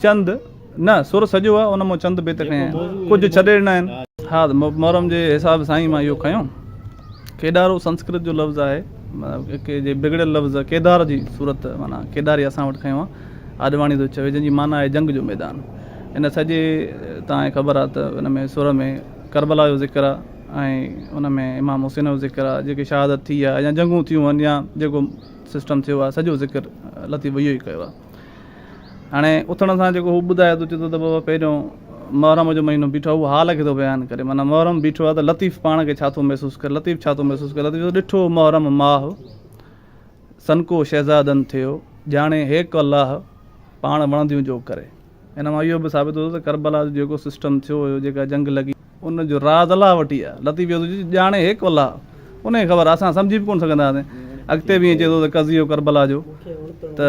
چند، نه، سر سڄو آ، ان مون چند بيت کنيا آهن. ڪجهه ڇڏي ڏنا آهن. ها، محرم جي حساب سان ئي مان اهو کنيو. ڪيڏارو سنسڪرت جو لفظ آهي، ڪي جي بگڙيل لفظ ڪيدار جي صورت معنيٰ ڪيداري اسان وٽ کنيو آهي. آڏواڻي ٿو چوي، جنهن جي معنيٰ آهي جنگ جو ميدان. ان سڄي تان ئي خبر آهي ته ان ۾ سر ۾ ڪربلا جو ذڪر آهي ۽ ان ۾ امام حسين جو ذڪر آهي، جيڪي شهادت ٿي آهي يا جنگون ٿيون آهن يا جيڪو سسٽم ٿيو آهي، سڄو ذڪر لطيف اهو ئي ڪيو آهي. هاڻي اٿڻ سان جيڪو هو ٻڌائي ٿو چي ٿو ته بابا پهريون محرم جو مهينو بيٺو اهو حال کي ٿو بيان ڪري معنيٰ محرم بيٺو آهي ته لطيف پاڻ کي ڇا ٿو محسوس ڪري لطيف ڇا ٿو محسوس ڪري لطيف ڏٺو محرم ماهه سنڪو شهزادن ٿيو ڄاڻي هيڪ الله پاڻ وڻنديون جو ڪري ان مان اهو به ثابت ٿيو ته ڪربلا جو جيڪو سسٽم ٿيو هيو، جيڪا جنگ لڳي، ان جو راز الله وٽ ئي آهي، لطيف يوسف چيو ته ڄاڻي هيڪ الله ان کي خبر آهي، اسان سمجهي به ڪونه سگهندا هئاسين. اڳتي به ائين چئي ٿو ته قضيو ڪربلا جو ته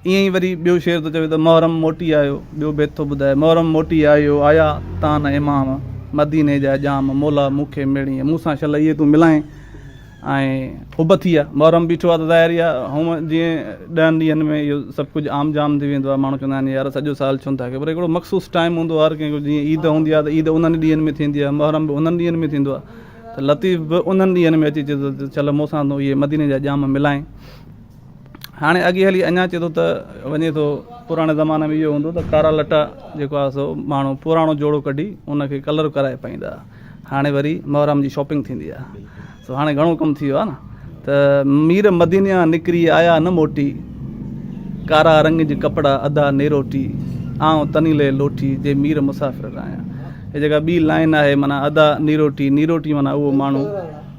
ائين ئي وري ٻيو شعر ٿو چوي ته محرم موٽي آيو، ٻيو بيت ٿو ٻڌائي، محرم موٽي آيو، آيا تان امام، مديني جا ڄام، مولا مون کي ميڙيئين، مون سان شل اهي تون ملائين. ۽ حب ٿي آ، محرم بيٺو آ ته ظاهر ئي آ هونء جيئن ڏهن ڏينهن ۾ اهو سڀ ڪجهه عام جام ٿي ويندو آ، ماڻهو چوندا آهن يار سڄو سال ڇو نه ٿا ڪيو پر هڪڙو مخصوص ٽائيم هوندو آ هر ڪنهن جو جيئن عيد هوندي آ ته عيد انهن ئي ڏينهن ۾ ٿيندي آ، محرم به انهن ڏينهن ۾ ٿيندو آ ته لطيف به انهن ڏينهن ۾ اچي چئي ٿو ته چل مون سان تون اهي مديني جا ڄام ملائين. هاڻي اڳي هلي اڃا چئي ٿو ته وڃي ٿو پراڻي زماني ۾ اهو هوندو ته ڪارا لٽا جيڪو آ سو ماڻهو پراڻو جوڙو ڪڍي ان کي ڪلر ڪرائي پائيندا ها. هاڻي وري محرم جي شاپنگ ٿيندي آ سو هاڻي گهڻو ڪم ٿي ويو آ نه ته مير مدينيان نڪري آيا نه موٽي ڪارا رنگ جي ڪپڙا ادا نيروٽي آئون تنيلي لوٽي جي مير مسافر رايان هي جيڪا ٻي لائن آهي معنی ادا نيروٽي نيروٽي معنی اهو ماڻهو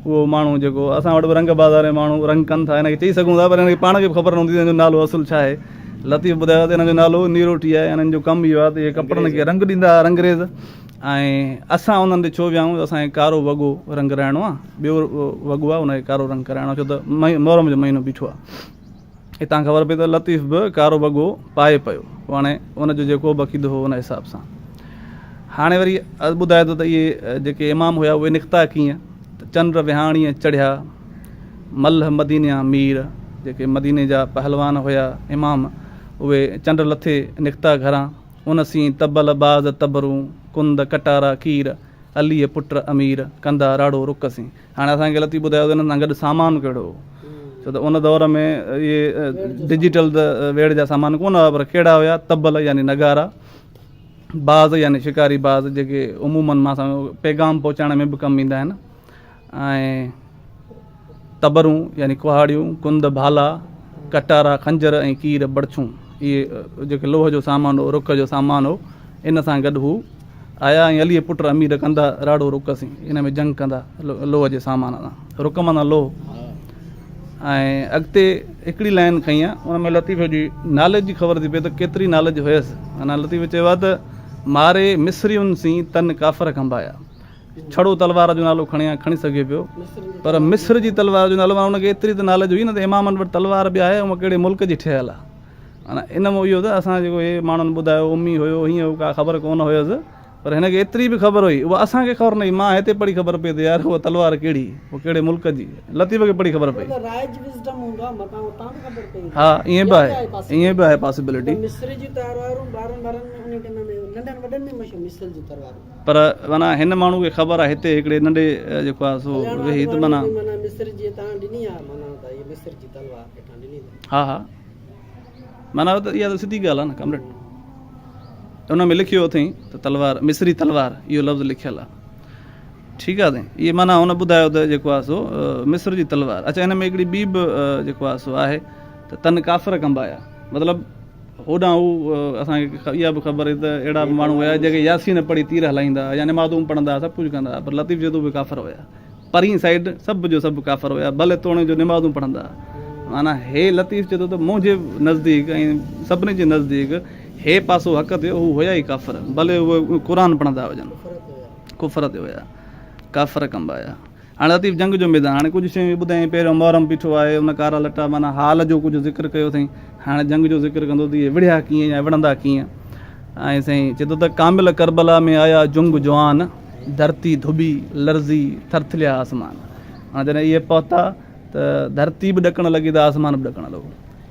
اهو ماڻهو جيڪو اسان وٽ به رنگ بازار ماڻهو رنگ ڪن ٿا هن کي چئي سگهون ٿا پر هن کي پاڻ کي به خبر نه هوندي هن جو نالو اصل ڇا آهي لطيف ٻڌايو ته هن جو نالو نيروٽي آهي هنن جو ڪم اهو آهي ته هي ڪپڙن کي رنگ ڏيندا هئا رنگريز ۽ اسان انهن تي ڇو ويهائون جو اسان کي ڪارو وڳو رنگ رائڻو آ ٻيو وڳو آ ان کي ڪارو رنگ ڪرائڻو آ ڇو ته محرم جو مهينو بيٺو آ هتان خبر پئي ته لطيف به ڪارو وڳو پائي پيو پوء هاڻي ان جو جيڪو به عقيدو هو ان حساب سان هاڻي وري ٻڌائي ٿو ته اهي جيڪي امام هيا اهي نڪتا ڪيئن ته چنڊ وهاڻيء چڙهيا ملهه مدينيا مير جيڪي مديني جا پهلوان هيا امام اهي چنڊ لٿي نڪتا گهران ان سين طبل باز طبرون، ڪند ڪٽارا ڪير، عليء پٽ امير، ڪندا راڙو رڪ سين. هاڻي اسان کي لطيف ٻڌايو ته انهن سان گڏ سامان ڪهڙو هو؟ ڇو ته ان دور ۾ اهي ڊجيٽل ته ويڙهه جا سامان ڪونه هئا پر ڪهڙا هيا طبل يعني نغارا، باز يعني شڪاري باز جيڪي عموماً مان سان پيغام پهچائڻ ۾ به ڪم ايندا آهن. ۽ تبرون يعني ڪهاڙيون، ڪنڌ، ڀالا، ڪٽارا، خنجر ۽ ڪير، بڙڇون، اهي جيڪي لوهه جو سامان هو، رک جو سامان هو، ان سان گڏ هو آيا ۽ عليء پٽ امير ڪندا راڙهو رک سين ان ۾ جنگ ڪندا لوهه جي سامان سان، رک معنيٰ لوهه ۽ اڳتي هڪڙي لائين کئي ها ان ۾ لطيف جي نالج جي خبر ٿي پئي ته ڪيتري نالج هيس، معنيٰ لطيف چيو ها ته ماري مصرين سين تن ڪافر کنڀايا، ڇڙو تلوار جو نالو کڻي ها کڻي سگهي پيو پر مصر جي تلوار جو نالو ان کي ايتري ته نالج هئي نه ته امامن وٽ تلوار به آهي ۽ ڪهڙي ملڪ جي ٺهيل آهي معنيٰ ان مون اهو ته اسان جيڪو هي ماڻهن ٻڌايو امي هيو هيئن هو ڪا خبر ڪونه هيس پر هن کي ايتري به خبر هئي اها اسان کي خبر نه هئي مان هتي پڙهي خبر پئي ته يار اها تلوار ڪهڙي اها ڪهڙي ملڪ جي لطيف کي پڙهي خبر پئي ها ائين به آهي ائين به آهي پاسبلٽي پر معنيٰ هن ماڻهو کي خبر آهي هتي هڪڙي ننڍي جيڪو آهي سو ويهي ته معنيٰ. ها ها معنيٰ اها ته سڌي ڳالهه آهي نه ڪامريڊ. ان ۾ لکيو اٿئي ته تلوار مصري تلوار اهو لفظ لکيل آهي ٺيڪ آهي سائين اهي معنيٰ هن ٻڌايو ته جيڪو آهي سو مصر جي تلوار اڇا هن ۾ هڪڙي ٻي به جيڪو آهي سو آهي ته تن ڪافر ڪنبايا مطلب هوڏانهن هو اسان کي اها به خبر هئي ته اهڙا به ماڻهو هيا جيڪي ياسين پڙهي تير هلائيندا هئا يا نمازون پڙهندا سڀ ڪجهه ڪندا هئا پر لطيف جدو به ڪافر هيا پرين سائيڊ سڀ جو سڀ ڪافر هيا ڀلي توڻي جو نمازون پڙهندا معنيٰ هي لطيف جدو ته منهنجي نزديڪ ۽ سڀني جي نزديڪ هي پاسو حق تي هو هيا ئي ڪافر ڀلي هو قرآن پڙهندا هجن ڪفر تي هيا ڪافر ڪنبا هيا هاڻ لطيف جنگ جو ميدان هاڻي ڪجهه شيون اهي ٻڌايائين پهريون محرم بيٺو آهي ان ڪارا لٽا معنيٰ حال جو ڪجهه ذڪر ڪيو اٿئين هاڻي جنگ جو ذڪر ڪندو ته اهي وڙهيا ڪيئن يا وڙهندا ڪيئن ۽ سائين چئي ٿو ته ڪامل ڪربلا ۾ آيا جنگ جوان ڌرتي ڌٻي لرزي ٿرٿليا آسمان هاڻ جڏهن اهي پهتا ته ڌرتي به ڏڪڻ لڳي ته آسمان به ڏڪڻ لڳو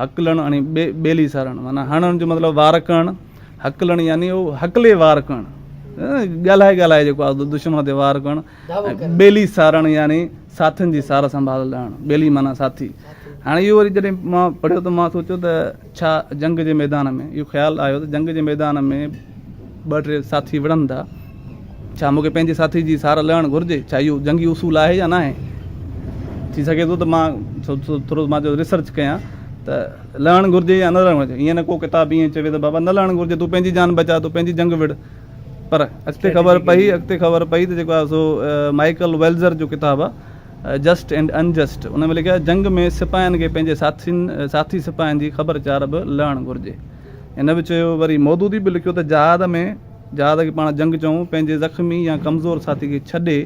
هڪلڻ يعني ٻيلي سارڻ معنيٰ هڻڻ جو مطلب وار ڪرڻ، هڪلڻ يعني اهو هڪلي وار ڪرڻ ڳالهائي ڳالهائي جيڪو آهي دشمن تي وار ڪرڻ ۽ ٻيلي سارڻ يعني ساٿين جي سار سنڀال لهڻ ٻيلي معنيٰ ساٿي هاڻي اهو وري جڏهن مان پڙهيو ته مان سوچيو ته ڇا جنگ جي ميدان ۾ اهو خيال آيو ته جنگ جي ميدان ۾ ٻه ٽي ساٿي وڙهن ٿا ڇا مون کي پنهنجي ساٿي جي سار لهڻ گهرجي؟ ڇا اهو جنگي اصول آهي يا ناهي؟ ٿي سگهي ٿو ته مان ٿورو مان چيو ريسرچ ڪيان ته لهڻ گهرجي يا نه لهڻ گهرجي. ايئن نه ڪو ڪتاب ايئن چوي ته بابا نه لهڻ گهرجي، تون پنهنجي جان بچاء، تون پنهنجي جنگ وڙهه. پر اڳتي خبر پئي، اڳتي خبر پئي ته جيڪو آهي سو مائيڪل ويلزر جو ڪتاب آهي جسٽ اينڊ ان جسٽ ان ۾ لکيو آهي جنگ ۾ سپاهين کي پنهنجي ساٿين، ساٿي سپاهين جي خبر چار به لهڻ گهرجي. هن به چيو وري مودودي به لکيو ته جهاد ۾. جهاد کي پاڻ جنگ چئون، پنهنجي زخمي يا ڪمزور ساٿي کي ڇڏي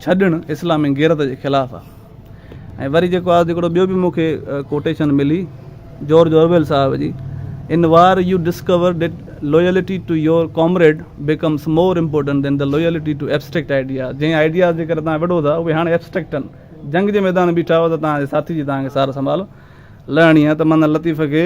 ڇڏڻ اسلامي غيرت جي خلاف آ. ۽ وري جيڪو آ هڪڙو ٻيو به مون کي ڪوٽيشن ملي جورج اوريول صاحب جي in war you discover that loyalty to your comrade becomes more important than the loyalty to abstract ideas جنهن آئيڊياز جي ڪري توهان وڙهو ٿا اهي هاڻي ايبسٽريڪٽ آهن جنگ جي ميدان ۾ بيٺا آهيو ته توهان جي ساٿي جي توهان کي سار سنڀال لهڻي آ ته من لطيف کي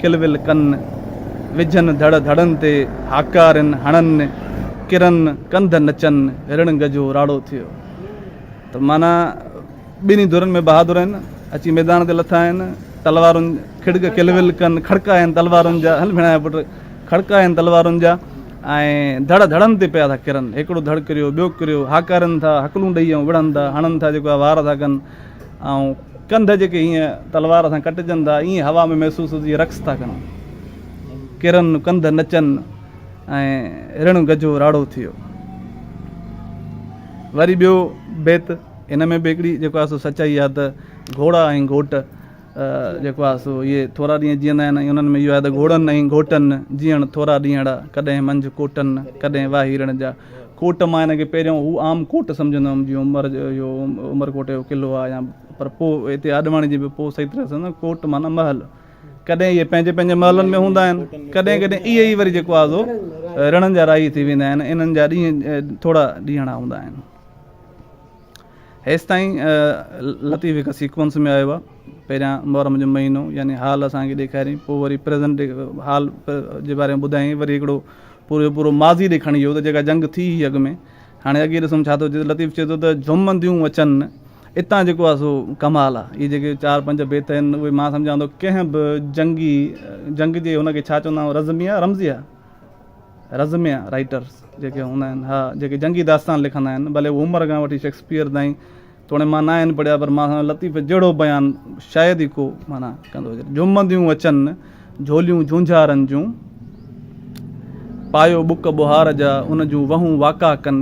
کل ول ڪن، وجهن ڌڙ ڌڙن تي، هاڪارين هڻن، ڪرن ڪنڌ نچن، هرڻ گجهو راڙو ٿيو. ته معنيٰ ٻنهي ڌرين ۾ بهادر آهن، اچي ميدان تي لٿا آهن، تلوارن کڙڪ کل ول ڪن، کڙڪا آهن تلوارن جا، هل ڀيڻايا پٽ، کڙڪا آهن تلوارن جا ۽ ڌڙ ڌڙن تي پيا ٿا ڪرن، هڪڙو ڌڙ ڪريو، ٻيو ڪريو، هاڪارين ٿا، هڪلون ڏئي ائون وڙهن ٿا، هڻن ٿا جيڪو آهي وار ٿا ڪن. ۽ ڪنڌ جيڪي هيئن تلوار سان ڪٽجن ٿا، ائين هوا ۾ محسوس هجي رقص ٿا ڪن. ڪرن ڪنڌ نچن ۽ رڻ گجو راڙو ٿيو. وري ٻيو بيت ان ۾ به هڪڙي جيڪو آهي سو سچائي آهي ته گهوڙا ۽ گهوٽ جيڪو آهي سو اهي ٿورا ڏينهن جيئندا آهن ۽ انهن ۾ اهو آهي ته گهوڙن ۽ گهوٽن جيئڻ ٿورا ڏينهن اڙا ڪڏهن منجهه ڪوٽن ڪڏهن واهيرڻ جا ڪوٽ مان هن کي پهريون هو عام ڪوٽ سمجهندو هوم جيئن عمر جو اهو عمر ڪوٽ جو قلعو آهي يا پر پوء هتي آڏواڻي جي به پوء صحيح طرح سمجهندو ڪوٽ معنيٰ محل ڪڏهن اهي پنهنجي پنهنجي محلن ۾ هوندا آهن ڪڏهن ڪڏهن اهي ئي وري جيڪو آهي سو رڻن جا راهي ٿي ويندا آهن انهن جا ڏينهن ٿورا ڏينهڙا هوندا آهن هيستائين لطيف هڪ سيڪوئنس ۾ آيو آهي پهريان محرم جو مهينو يعني حال اسان کي ڏيکاريائين پوء وري پريزنٽ حال جي باري ۾ ٻڌايائين وري هڪڙو پورو جو پورو ماضي ڏي کڻي ويو ته جيڪا جنگ ٿي هئي اڳ ۾ هاڻي اڳي ڏسون ڇا ٿو چئي لطيف چئي ٿو ته جهمنديون اچن اتان جيڪو آهي سو ڪمال آهي اهي جيڪي چار پنج بيت آهن اهي مان سمجهان ٿو ڪنهن به جنگي جنگ جي هن کي ڇا چوندا آهيون رزمي آهي رمزي آهي رزميء رائيٽرز جيڪي هوندا آهن، اها جيڪي جنگي داستان لکندا آهن، ڀلي هو عمر کان وٺي شيڪسپيئر تائين، توڻي مان نه آهن پڙهيا، پر مان سان لطيف جهڙو بيان شايد ئي ڪو معنيٰ ڪندو هجي. جهومنديون اچن جهوليون جهونجهارن جون، پايو ٻڪ ٻوهار جا، ان جون وهون واڪا ڪن،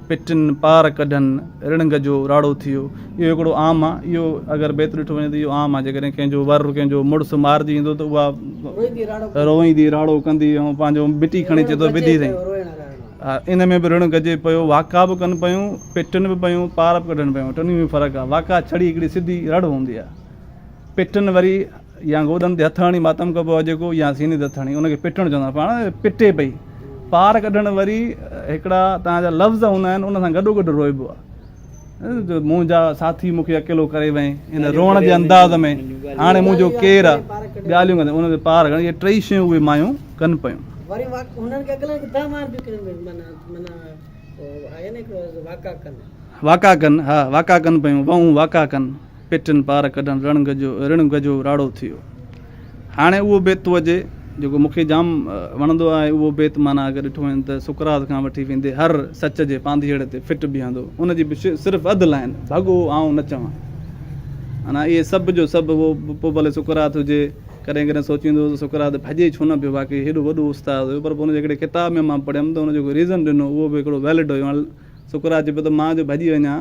پٽن پار ڪڍن، رڻنگ جو راڙو ٿيو. اهو هڪڙو عام آ. اهو اگر بيت ڏٺو وڃي ته اهو عام آ. جيڪڏهن ڪنهن جو ور ڪنهن جو مڙس مارجي ايندو ته اها روئيندي راڙو ڪندي ۽ پنهنجو مٽي کڻي چئي ٿو وڌي سائين ها ان ۾ به رڻ ڪجي پيو واڪا به ڪن پيون پٽن به پيون پار به ڪڍن پيون ٽنهي ۾ فرق آ واڪا ڇڙي هڪڙي سڌي رڙ هوندي آ پٽن وري يا گوڏن تي هٿ هڻي ماتم ڪبو آهي جيڪو يا سيني تي هٿ هڻي ان کي پٽڻ چوندا آهن پاڻ پٽي پئي پار ڪڍڻ وري هڪڙا تان جا لفظ هوندا آهن ان سان گڏو گڏ روئبو آهي منهنجا ساٿي مون کي اڪيلو ڪري وئي ان روئڻ جي انداز ۾ هاڻي منهنجو ڪير آهي ڳالهيون ڪندي ان تي پار ڪرڻ اهي ٽئي شيون اهي مايون ڪن پيون وري انهن کي اڪيلن کي دانهن مار ڏيون معنيٰ معنيٰ آهي نه هڪڙو واڪا ڪن واڪا ڪن ها واڪا ڪن پيون وئون واڪا ڪن پيٽن پار ڪڍڻ رڻ گجو رڻ گجو راڙو ٿيو. هاڻي اهو بيت ٿو اچي جيڪو مون کي جام وڻندو آهي. اهو بيت معنيٰ اگر ڏٺو وڃي ته سقراط کان وٺي ويندي هر سچ جي پانڌيئڙ تي فٽ بيهندو. ان جي به صرف اڌ لائن، ڀڳو آئون نه چوان. معنيٰ اهي سڀ جو سڀ هو پوء ڀلي سقراط هجي. ڪڏهن ڪڏهن سوچيندو هوس ته سقراط ڀڄي ڇو نه پيو واقعي هيڏو وڏو استاد هيو پر پوء ان جي هڪڙي ڪتاب ۾ مان پڙهيم ته ان جيڪو ريزن ڏنو اهو به هڪڙو ويلڊ هيو. هاڻي سقراط چئي پيو ته مان جو ڀڄي وڃان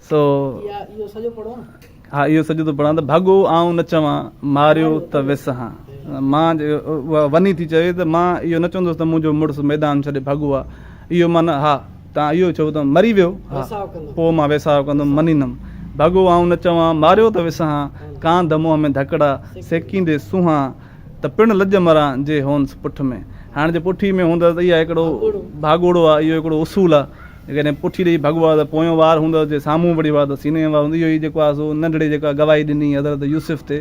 تو ها اهو سڄو ٿو پڙهان ته ڀڳو آئون نه چوان ماريو ته وس هان مان اها وني ٿي چوي ته مان اهو نه چوندس ته منهنجو مڙس ميدان ڇڏي ڀڳو آهي اهو مان نه ها تان اهو چئو ته مري ويو ها پوء مان ويساهه ڪندم منيندم ڀڳو آئون نه چوان ماريو ته وس هان ڪانڌ منهن ۾ ڌڪڙا سيڪيندي سونهان ته پڻ لڄ مران جي هونس پٺ ۾ هاڻي جي پٺي ۾ هوندس ته اها هڪڙو ڀاڳوڙو آهي اهو هڪڙو اصول آهي جيڪڏهن پٺي ڏئي ڀڳو آ ته پويون وار هوندس، جي سامهون وڙهيو آ ته سيني ۾ وار هوندس. اهو ئي جيڪو آ سو ننڍڙي جيڪا گواهي ڏني هئي حضرت يوسف تي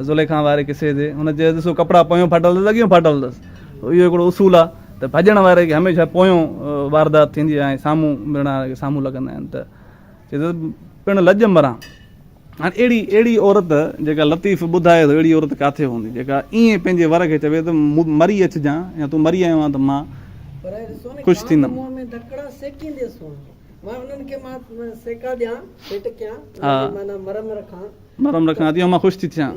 زليخا واري قصي تي، هن چيس ڏسو ڪپڙا پويون ڦاٽل اٿس اڳيون ڦاٽل اٿس. اهو هڪڙو اصول آ ته ڀڄڻ واري کي هميشه پويون واردات ٿيندي آ ۽ سامهون مڙڻ وارن کي سامهون لڳندا آهن ته چئي ٿو پڻ لڄ مران. هاڻي اهڙي اهڙي عورت جيڪا لطيف ٻڌائي ٿو اهڙي عورت ڪاٿي هوندي جيڪا ائين پنهنجي ور کي چوي ته مري اچجان يا تون مري آيو آهين ته مان خوش ٿيندم. مرم رکان اتي مان خوش ٿي ٿيان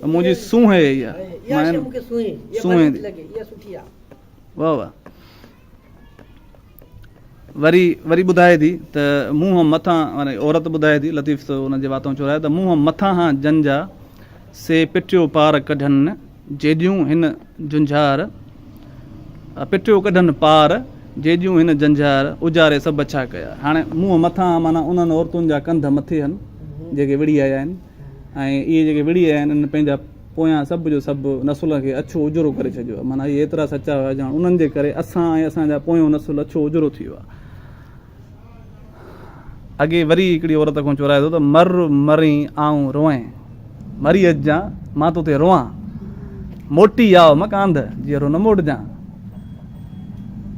ته منهنجي سونهن اها ئي آهي. سونهن ٿي. واهه واهه. وري وري ٻڌائي ٿي ته مون هم مٿان يعني عورت ٻڌائي ٿي لطيف ته ان جي واتان چورايو ته مون هم مٿان هان جن جا سي پٽيو پار ڪڍن جيڏيون هن جنجهار پٽيو ڪڍن پار جيڏيون هن جنجهار اجاري سڀ ڇا ڪيا هاڻي مون مٿان معنی انهن عورتن جا ڪنڌ مٿي هن جيڪي وڙهي آيا آهن ۽ اهي جيڪي وڙهي آيا آهن ان پنهنجا پويان سڀ جو سڀ نسلن کي اڇو اجرو ڪري ڇڏيو آهي. معنيٰ اهي ايترا سچا هيا ڄڻ انهن جي ڪري اسان ۽ اسان جا پويون نسل اڇو اجرو ٿي ويا. اڳي وري هڪڙي عورت کان چورائي ٿو ته مر مرين آئون روئين، مري اچجان مان توتي روئان، موٽي آء مڪانڌ، جيئرو نه موٽجان.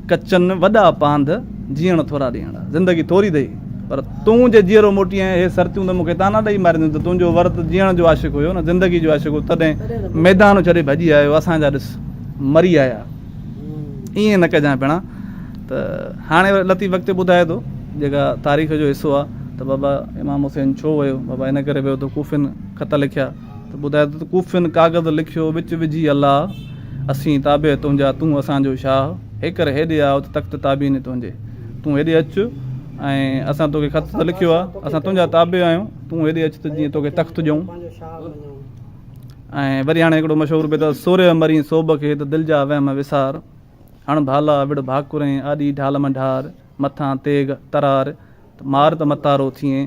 ڪچن وڏا پانڌ، جيئڻ ٿورا ڏينهڙ. زندگي ٿوري اٿئي، پر تون جي جيئرو موٽي آئين، اهي سرتيون ته مون کي طعنا ڏئي مارينديون ته تنهنجو ورت جيئڻ جو عاشق هيو نه زندگي جو عاشق هو، تڏهن ميدان ڇڏي ڀڄي آيو، اسان جا ڏس مري آيا. ائين نه ڪجانء ڀيڻا ته هاڻي وري لطيف اڳتي ٻڌائي ٿو، جيڪا تاريخ جو حصو آ، ته بابا امام حسين ڇو ويو؟ بابا ان ڪري ويو ته ڪوفين خط لکيا. ته ٻڌاء ته ڪوفين ڪاغذ لکيو وچ وجهي الله اسين تابع تنهنجا تون اسان جو شاهه هيڪر هيڏي آء ته تخت تابعين تنهنجي تون هيڏي اچ ۽ اسان توکي خط ته لکيو آ اسان تنهنجا تابع آهيون تون هيڏي اچ ته جيئن توکي تخت ڏيون ۽ وري هاڻي هڪڙو مشهور بيت سورهيه مرين سوڀ کي ته دل جا وهم وسار هڻ ڀالا وڙ ڀاڪرين آڏي ڍال مان ڍار مٿان تيغ ترار ته مار ته متارو ٿئين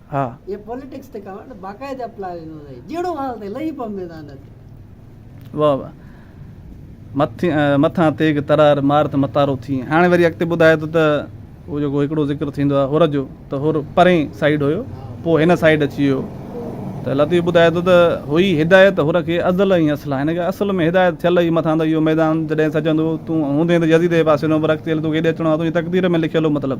ها. اهي پوليٽڪس تي ڪاوڙ ته باقاعده پلا ويندو اٿئي. جهڙو حال اٿئي لهي پم ميدان نه ٿي. واهه واهه مٿي مٿان تيغ ترار مار ته متارو ٿي. هاڻي وري اڳتي ٻڌائي ٿو ته اهو جيڪو هڪڙو ذڪر ٿيندو آهي حر جو ته حر پرين سائيڊ هيو پوء هن سائيڊ اچي ويو ته لطيف ٻڌائي ٿو ته هئي هدايت حر کي ازل ۽ اصلا هن کي اصل ۾ هدايت ٿيل هئي مٿان ته اهو ميدان جڏهن سجندو تون هوندين ته يزيد جي پاسي نو پر اڳتي هلي توکي هيڏي اچڻو آهي تنهنجي تقدير ۾ لکيل هو مطلب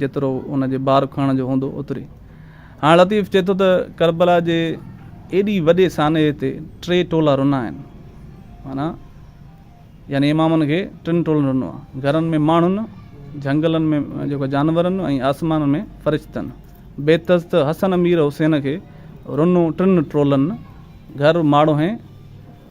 جيترو ان جي بار کڻڻ جو هوندو اوتري. هاڻ لطيف چئي ٿو ته ڪربلا جي ايڏي وڏي سانحي تي ٽي ٽولا رنا آهن. معنيٰ يعني امامن کي ٽن ٽولن رنو آهي. گهرن ۾ ماڻهن، جهنگلن ۾ جيڪو جانورن ۽ آسمان ۾ فرشتن. بيتس ته حسن امير حسين کي رنو ٽن ٽولن، گهر، ماڙو ۽.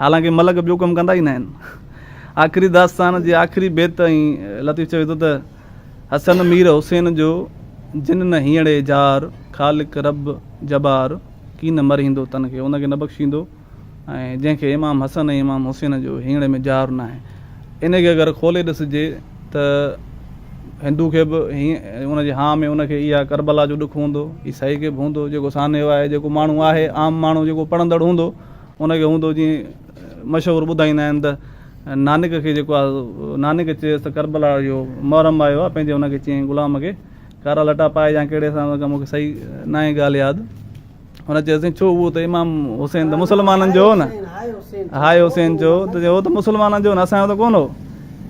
حالانڪه ملڪ ٻيو ڪم ڪندا ئي ناهن. آخري داستان جي آخري بيت ۽ لطيف چوي ٿو ته، حسن مير حسين جو جن نه هينئڙي جار، خالق رب جبار ڪين مرهيندو تن کي ان کي نه بخشيندو ۽ جنهن کي امام حسن ۽ امام حسين جو هينئڙي ۾ جار ناهي ان کي اگر کولي ڏسجي ته هندو کي به ان جي هان ۾ ان کي اها ڪربلا جو ڏک هوندو، عيسائي کي به هوندو جيڪو سانحو آهي جيڪو ماڻهو آهي عام ماڻهو جيڪو پڙهندڙ هوندو ان کي هوندو جيئن مشهور ٻڌائيندا آهن ته نانڪ کي جيڪو آهي نانڪ چيس ته ڪربلا جو محرم آيو آهي پنهنجي ان کي چيائين غلام کي ڪارا لٽا پائي يا ڪهڙي حساب سان مون کي صحيح نه آهي ڳالهه ياد هن چيس سائين ڇو اهو ته امام حسين ته مسلمانن جو هو نه هاء حسين جو ته هو ته مسلمانن جو نه اسان جو ته ڪونه هو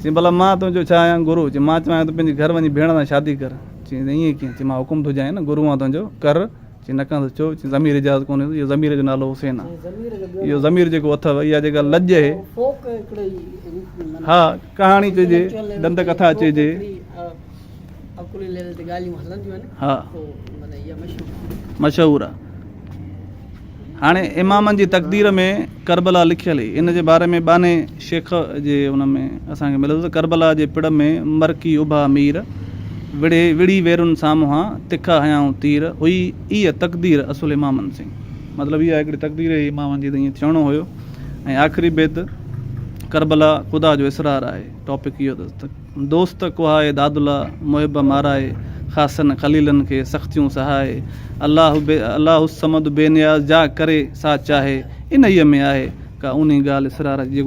چي ڀلا مان تنهنجو ڇا آهيان گرو چي مان چوايان ته پنهنجي گهر وڃي ڀيڻ سان شادي ڪر چي ائين ڪيئن چي مان حڪم ٿو ڏيان نه گرو آن تنهنجو ڪر چي نه ڪندس ڇو؟ چي ضمير اجازت ڪونهي ڏيندو، اهو ضمير جو نالو حسين آ. اهو ضمير جيڪو اٿئو، اها جيڪا لڄ اهي. ها ڪهاڻي چئجي، ڏند ڪٿا چئجي. ها مشهور آ. هاڻي امامن جي تقدير ۾ ڪربلا لکيل هئي، ان جي باري ۾ ٻانهي. شيخ جي ان ۾ اسان کي ملندو ته ڪربلا جي پڙ ۾ مرڪي اڀا مير، وڙهي وڙهي ويرن سامهان، تکا هنيائون تير، هئي ايء تقدير اصل امامن سين. مطلب اها هڪڙي تقدير هئي امامن جي ته ائين ٿيڻو هيو ۽ آخري بيت ڪربلا خدا جو اسرار آهي ٽاپڪ اهو اٿس ته. دوست ڪوهائي دادلا محب مارائي خاصن خليلن کي سختيون سهائي الله الله الصمد بي نياز جا ڪري سا چاهي انهيء ۾ آهي ڪا اونهي ڳالهه اسرار جي